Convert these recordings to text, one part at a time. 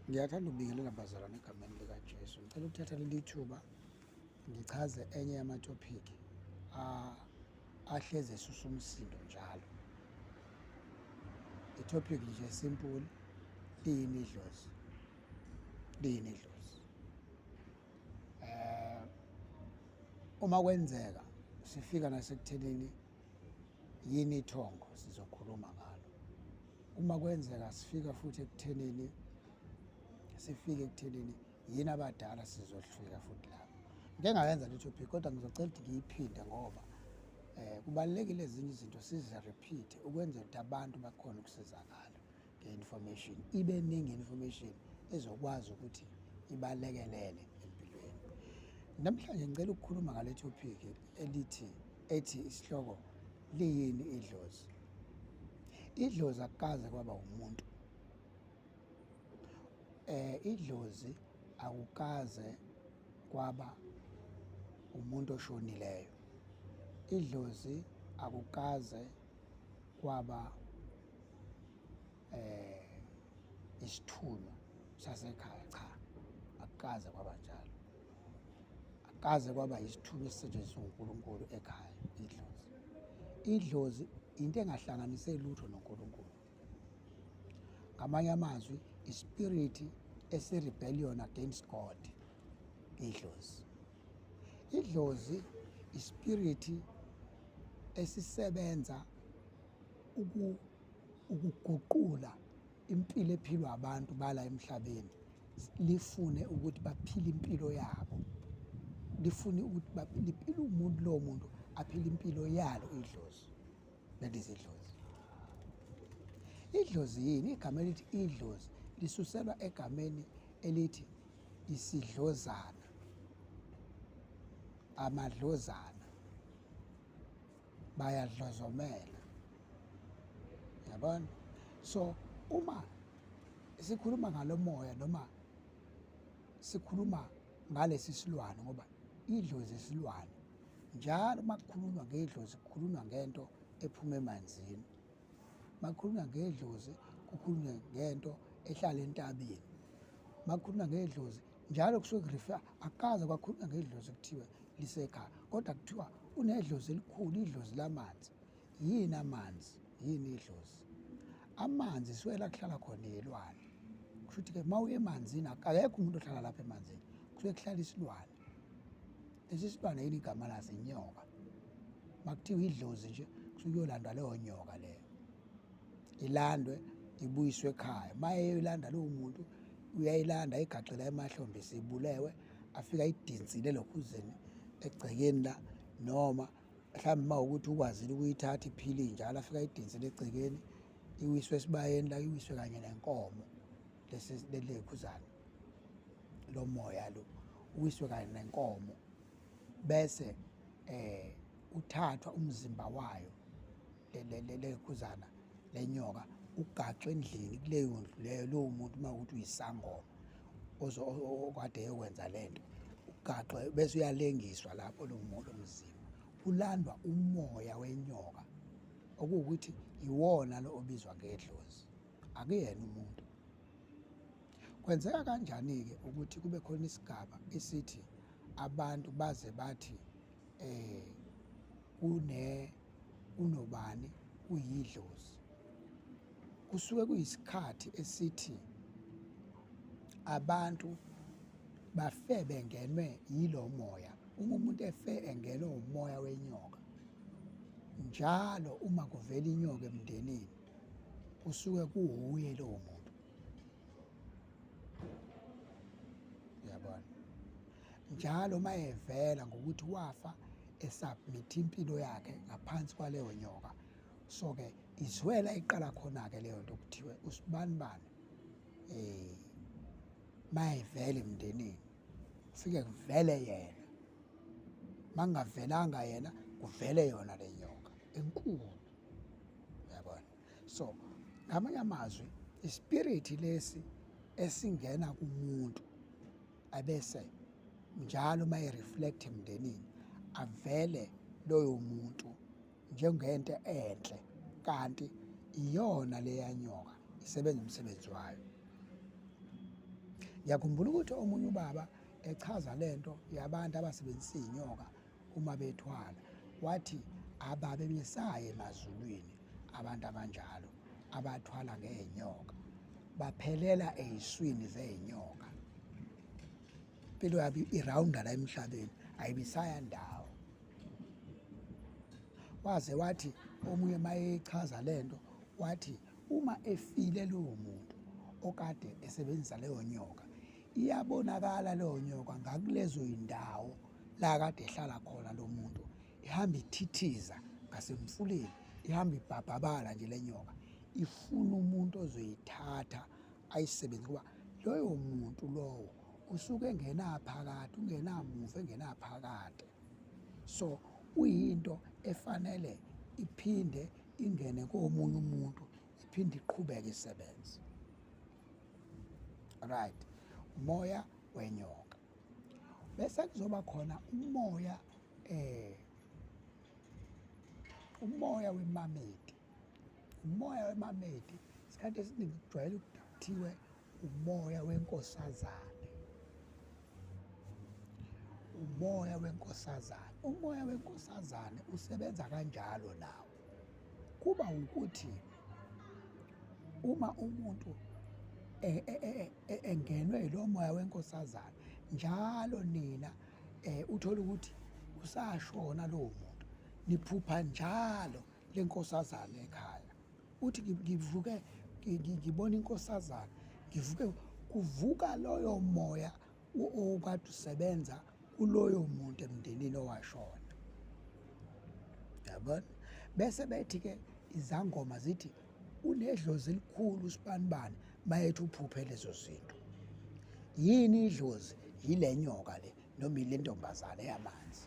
Ngiyathanda ukubingelela bazalwane egameni likaJesu. Ngicela ukuthatha leli thuba ngichaze enye yamatophiki ahlezi esusa umsindo njalo. Itopic nje simple liyini idlozi. Liyini idlozi. Eh uma kwenzeka sifika nasekuthenini yini ithongo sizokhuluma ngalo uma kwenzeka sifika futhi ekuthenini sifike ekuthenini yini abadala sizofika futhi lapho ngike ngayenza le topic kodwa ngizocela ukuthi ngiyiphinde ngoba um kubalulekile ezinye izinto sizi-repeat ukwenzela ukuthi abantu bakhona ukusizakala information ibe ningi information ezokwazi ukuthi ibalekelele empilweni namhlanje ngicela ukukhuluma ngale topic elithi ethi isihloko liyini idlozi idlozi akukaze kwaba umuntu eh idlozi akukaze kwaba umuntu oshonileyo idlozi akukaze kwaba eh isithunywa sasekhaya cha akukaze kwaba njalo akukaze kwaba isithunywa esisetshenziswa uNkulunkulu ekhaya idlozi idlozi into engahlanganise lutho noNkulunkulu ngamanye amazwi ispirit esi-rebellion against god idlozi Idlozi ispiriti esisebenza uku ukuguqula impilo ephilwa abantu bala emhlabeni lifune ukuthi baphile impilo yabo lifune ukuthi liphile umuntu lowo muntu aphile impilo yalo idlozi that is idlozi idlozi yini igama elithi idlozi lisuselwa egameni elithi isidlozana amadlozana bayadlozomela yabona so uma sikhuluma ngalomoya noma sikhuluma ngalesi silwane ngoba idlozi isilwane njalo uma kukhulunywa ngedlozi kukhulunywa ngento ephuma emanzini makukhulunywa ngedlozi kukhulunywe ngento ehlala entabeni makukhulunywa ngedlozi njalo kusuke kurifa akaze kwakhulunywa ngedlozi kuthiwe lisekhaya kodwa kuthiwa unedlozi elikhulu idlozi lamanzi yini amanzi yini idlozi amanzi siwela kuhlala khona yilwane kusho ukuthi-ke uma uye emanzini akekho umuntu ohlala lapha emanzini kusuke kuhlala isilwane lesi silwane yini igama laso inyoka makuthiwa idlozi nje kusuke kuyolandwa leyo nyoka leyo ilandwe ibuyiswe ekhaya maye yoyilanda lowo muntu uyayilanda igaxela emahlombe sibulewe afika idinsile lokhuzeni egcekeni la noma mhlawumbe uma ukuthi ukwazile ukuyithatha iphile njalo afika idinsile egcekeni iwiswe esibayeni la iwiswe kanye nenkomo lesi lekhuzana lo moya lo uwiswe kanye nenkomo bese eh uthathwa umzimba wayo lekhuzana lenyoka ugaxwe endlini kuleyo ndlu leyo lowo muntu uma ukuthi uyisangoma okade eyokwenza le nto ugaxwe bese uyalengiswa lapho lo muntu omzimba kulandwa umoya wenyoka okuwukuthi yiwona lo obizwa ngedlozi akuyena umuntu kwenzeka kanjani-ke ukuthi kube khona isigaba esithi abantu baze bathi eh kune kunobani uyidlozi kusuke kuyisikhathi esithi abantu bafe bengenwe yilo moya uma umuntu efe engenwe umoya wenyoka njalo uma kuvela inyoka emndenini kusuke kuwuye lowo muntu uyabona njalo uma evela ngokuthi wafa esubmit impilo yakhe ngaphansi kwaleyo nyoka so-ke izwela iqala khona-ke leyo nto kuthiwe usibanibani um eh, mayevele emndenini ufike kuvele yena makungavelanga yena kuvele yona le nyoka enkulu yabona so ngamanye amazwi ispiriti lesi esingena kumuntu abese njalo uma ereflect emndenini avele loyo muntu njengento enhle kanti iyona leyanyoka isebenza umsebenzi wayo ngiyakhumbula ukuthi omunye ubaba echaza lento yabantu abasebenzisa inyoka uma bethwala wathi ababemesaye emazulwini abantu abanjalo abathwala ngeenyoka baphelela eyiswini zeenyoka impilo yabo irawunda la emhlabeni ayibisaya ndawo waze wathi omunye mayechaza lento wathi uma efile lowo muntu okade esebenzisa leyo nyoka iyabonakala leyo nyoka ngakulezo yindawo la kade ehlala khona lo muntu ihamba ithithiza ngasemfuleni ihamba ibhabhabala nje le nyoka ifuna umuntu ozoyithatha ayisebenzi kuba loyo muntu lowo usuke engenaphakade ungenamuva engenaphakade so uyinto efanele iphinde ingene komunye umuntu iphinde iqhubeke isebenze right umoya wenyoka bese kuzoba khona umoya eh umoya wemamedi umoya wemamedi isikhathi esiningi kujwayele ukuthiwe umoya wenkosazane umoya wenkosazane umoya wenkosazane usebenza kanjalo nawo kuba ukuthi uma umuntu e, e, e, engenwe lo moya wenkosazane njalo nina eh uthola ukuthi usashona lo muntu niphupha njalo lenkosazane ekhaya uthi ngivuke ngibona inkosazana ngivuke kuvuka loyo moya okade usebenza kuloyo muntu emndenini owashona yabona bese bethi ke izangoma zithi unedlozi elikhulu usibanibani mayethi uphuphe lezo zinto yini idlozi yile nyoka le noma ile ntombazane yamanzi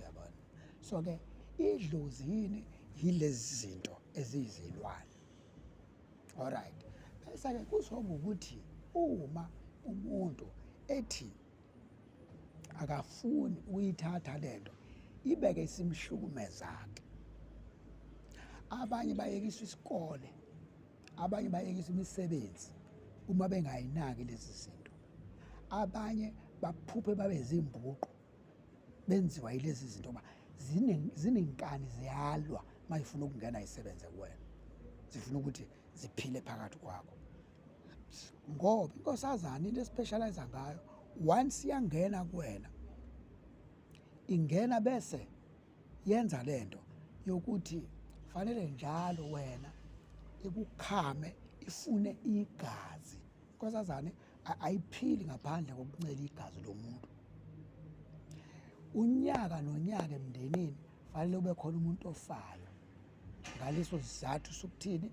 yabona so ke idlozi yini yilezi zinto eziyizilwane alright bese ke kuzoba ukuthi uma umuntu ethi akafuni ukuyithatha lento ibeke isimhlukumezake abanye bayekiswa isikole abanye bayekisa imisebenzi uma bengayinaki lezi zinto abanye baphuphe babe zimbuqo benziwa yilezi zinto ba zinenkani ziyalwa mayifuna ukungena isebenze kuwena zifuna ukuthi ziphile phakathi kwakho ngoba inkosazana into especialize ngayo once yangena kuwena ingena bese yenza lento yokuthi fanele njalo wena ikukhame ifune igazi inkosazane ayiphili ngaphandle kokuncela igazi lomuntu unyaka nonyaka emndenini fanele ube khona umuntu ofayo ngaleso sizathu sokuthini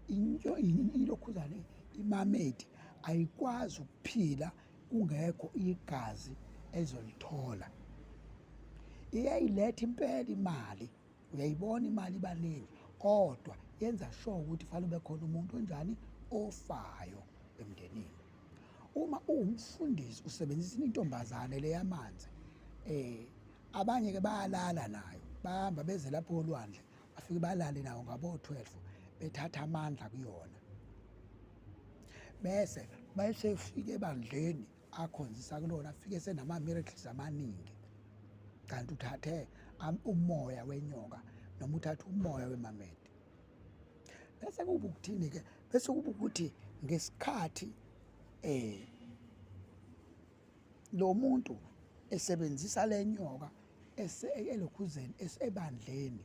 into ilokhuzane imamedi ayikwazi ukuphila kungekho igazi elizolithola iyayiletha impela imali uyayibona imali ibaningi kodwa yenza sure ukuthi fanele ube khona umuntu onjani ofayo emndenini uma uwumfundisi usebenzisa intombazane leyamanzi eh abanye ke bayalala nayo bahamba beze lapho olwandle bafike balale nawo ngabo-12 bethatha amandla kuyona bese bayesefike ebandleni akhonzisa kulona afike senama-miracles amaningi kanti uthathe umoya wenyoka noma uthathe umoya wemamede bese kuba ukuthini-ke bese kuba ukuthi ngesikhathi um Lo muntu esebenzisa le nyoka elokhuzeni esebandleni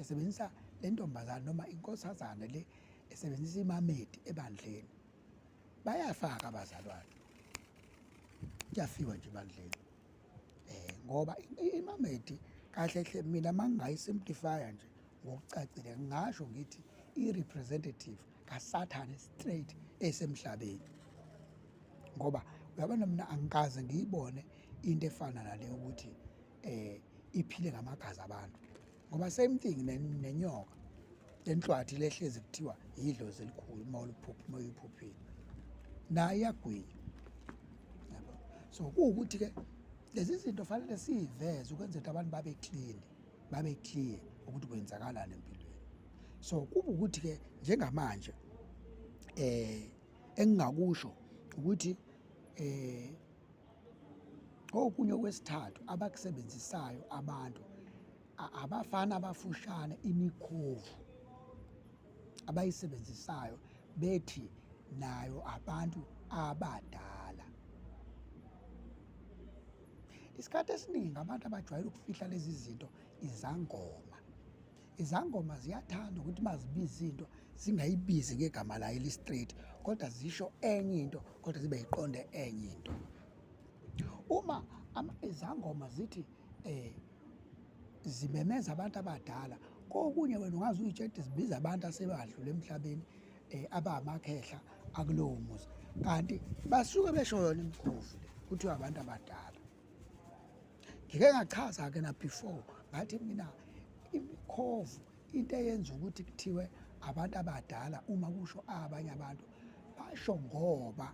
esebenzisa le ntombazane noma inkosazane le esebenzisa imamedi ebandleni bayafaka abazalwane kuyafiwa nje ebandleni eh ngoba imamedi kahle hle mina mangingayi simplifya nje ngokucacile ngasho ngithi i representative kasathane straight esemhlabeni ngoba uyabona mina angikaze ngiyibone into efana nale ukuthi eh iphile ngamagazi abantu ngoba same thing nenyoka lenhlwathi lehlezi kuthiwa yidlozi elikhulu uma uliphupha uma uyiphuphile nayo iyagwinya yabo so kuwukuthi-ke lezi zinto fanele siyiveze ukwenzela ukuthi abantu babe clean babe clear ukuthi kwenzakalani empilweni so kuba ukuthi ke njengamanje eh engingakusho ukuthi eh okunye okwesithathu abakusebenzisayo abantu abafana abafushane imikhovu abayisebenzisayo bethi nayo abantu abadala Isikhathi esiningi abantu abajwayele ukufihla lezi zinto izangoma. Izangoma ziyathanda ukuthi mazibiza into zingayibizi ngegama layo elistraight kodwa zisho enye into kodwa zibe yiqonde enye into. Uma izangoma zithi eh zimemeza abantu abadala kokunye wena ungaze uyitshela ukuthi zibiza abantu asebadlula emhlabeni eh aba amakhehla akulowo muzi kanti basuke besho yona imkhovu le kuthiwa abantu abadala ngike ngachaza ke na before ngathi mina imkhovu into eyenza ukuthi kuthiwe abantu abadala uma kusho abanye abantu basho ngoba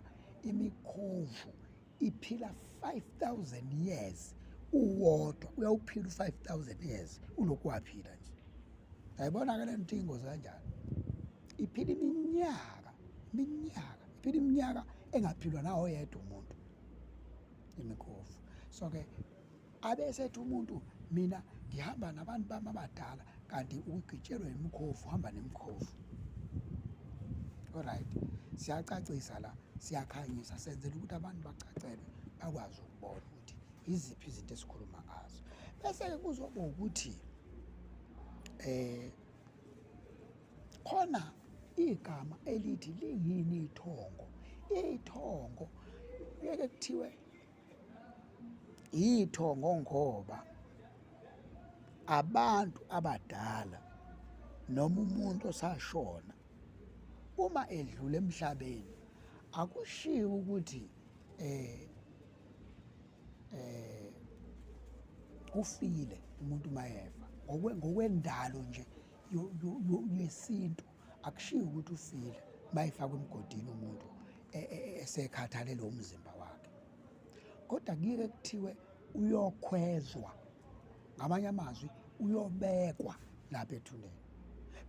imikhovu iphila 5000 years uwodwa uyawuphila u5000 years ulokhu waphila nje ayibona ke lento ingozi kanjani iphila iminyaka iminyaka iphila iminyaka engaphilwa nawo yedwa umuntu imikhovu so ke abesethi umuntu mina ngihamba nabantu bami abadala kanti ugitshelwe imikhovu hamba nemikhovu alright siyacacisa la siyakhanyisa senzela ukuthi abantu bacacelwe bakwazi ukubona ukuthi iziphi izinto esikhuluma ngazo bese-ke kuzoba ukuthi eh khona igama elithi liyini ithongo ithongo kuyeke kuthiwe Yithongo ngoba abantu abadala noma umuntu osashona uma edlula emhlabeni akushiwo ukuthi eh eh ufile umuntu mayefa ngokwendalo nje yesintu akushiyi ukuthi ufile bayifakwa emgodini umuntu e, e, e, esekhathalele umzimba wakhe kodwa kuyeke kuthiwe uyokhwezwa ngamanye amazwi uyobekwa lapha ethuneni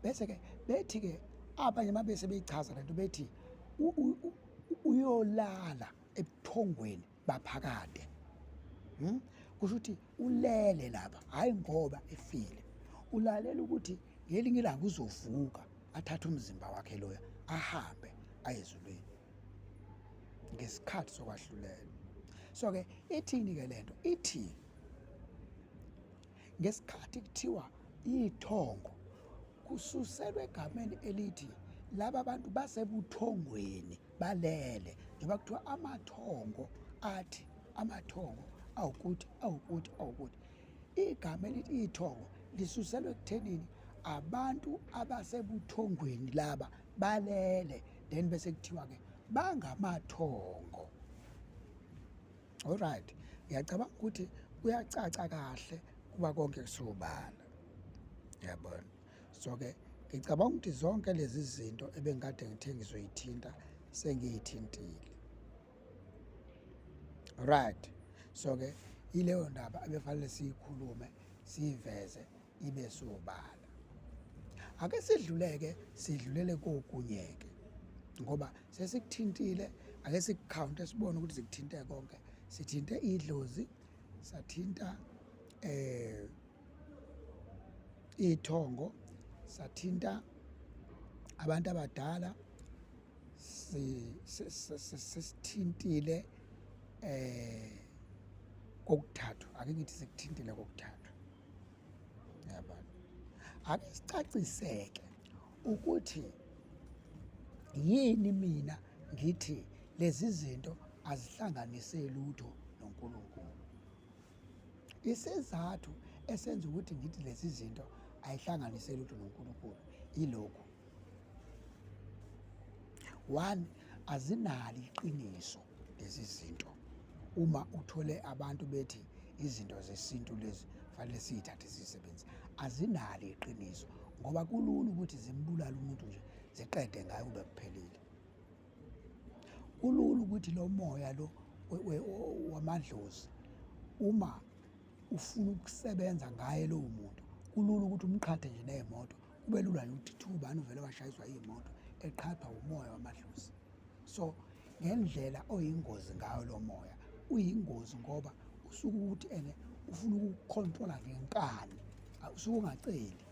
bese ke bethi ke abanye mabese beyichaza lento bethi uyolala ebuthongweni baphakade hmm? kusho ukuthi ulele lapha hhayi ngoba efile ulalela ukuthi ngelinye ilanga uzovuka athathe umzimba wakhe loya ahambe aye ezulwini ngesikhathi sokwahlulela so-ke ithini-ke le nto ithi ngesikhathi kuthiwa iy'thongo kususelwa egameni elithi laba bantu basebuthongweni balele njengoba kuthiwa amathongo athi amathongo awukuthi awukuthi awukuthi igama elithi ithongo lisuselwe ekuthenini abantu abasebuthongweni laba balele then bese kuthiwa-ke bangamathongo olright ngiyacabanga ukuthi kuyacaca kahle kuba konke kusobala yabona so ke ngicabanga ukuthi zonke lezi zinto ebengikade ngithe ngizoyithinta sengiyithintile right so ke ileyo ndaba ebefanele siyikhulume siyiveze ibe sobala ake sidluleke sidlulele kokunyeke ngoba sesikuthintile ake sikukhawunte sibone ukuthi zikuthinte konke sithinte idlozi sathinta eh iy'thongo sathinta abantu abadala sisithintile eh kokuthathu ake ngithi sikuthintile kokuthathu yabona ake sicaciseke ukuthi yini mina ngithi lezi zinto azihlanganise lutho noNkulunkulu Isizathu esenza ukuthi ngithi lezi zinto ayihlanganise lutho noNkulunkulu ilokhu. One, azinalo iqiniso lezi zinto. Uma uthole abantu bethi izinto zesintu lezi fanele siyithathe sisebenze azinalo iqiniso ngoba kulula ukuthi zimbulale umuntu nje ziqede ngayo kube kuphelile. Kulula ukuthi lo moya lo wamadlozi uma ufuna ukusebenza ngaye lowo muntu kulula ukuthi umqhathe nje ney'moto kube lula nje ukuthi thubani uvele washayiswa iy'moto eqhathwa umoya wamadlozi so ngendlela oyingozi ngayo lo moya uyingozi ngoba usuke ukuthi ene ufuna ukukhontrola ngenkani usuke ungaceli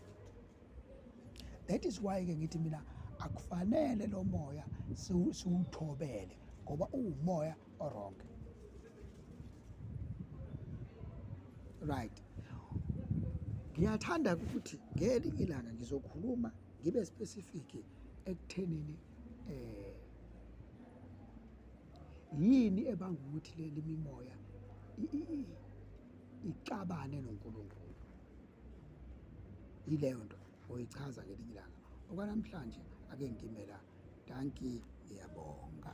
that is why ke ngithi mina akufanele lo moya siwuthobele ngoba uwumoya orong right ngiyathanda ukuthi ngelinye ilanga ngizokhuluma ngibe specific ekuthenini eh yini ebanga ukuthi leli mimoya icabane noNkulunkulu yileyo nto oyichaza ngelinye ilanga okwanamhlanje ake ngimela danki ngiyabonga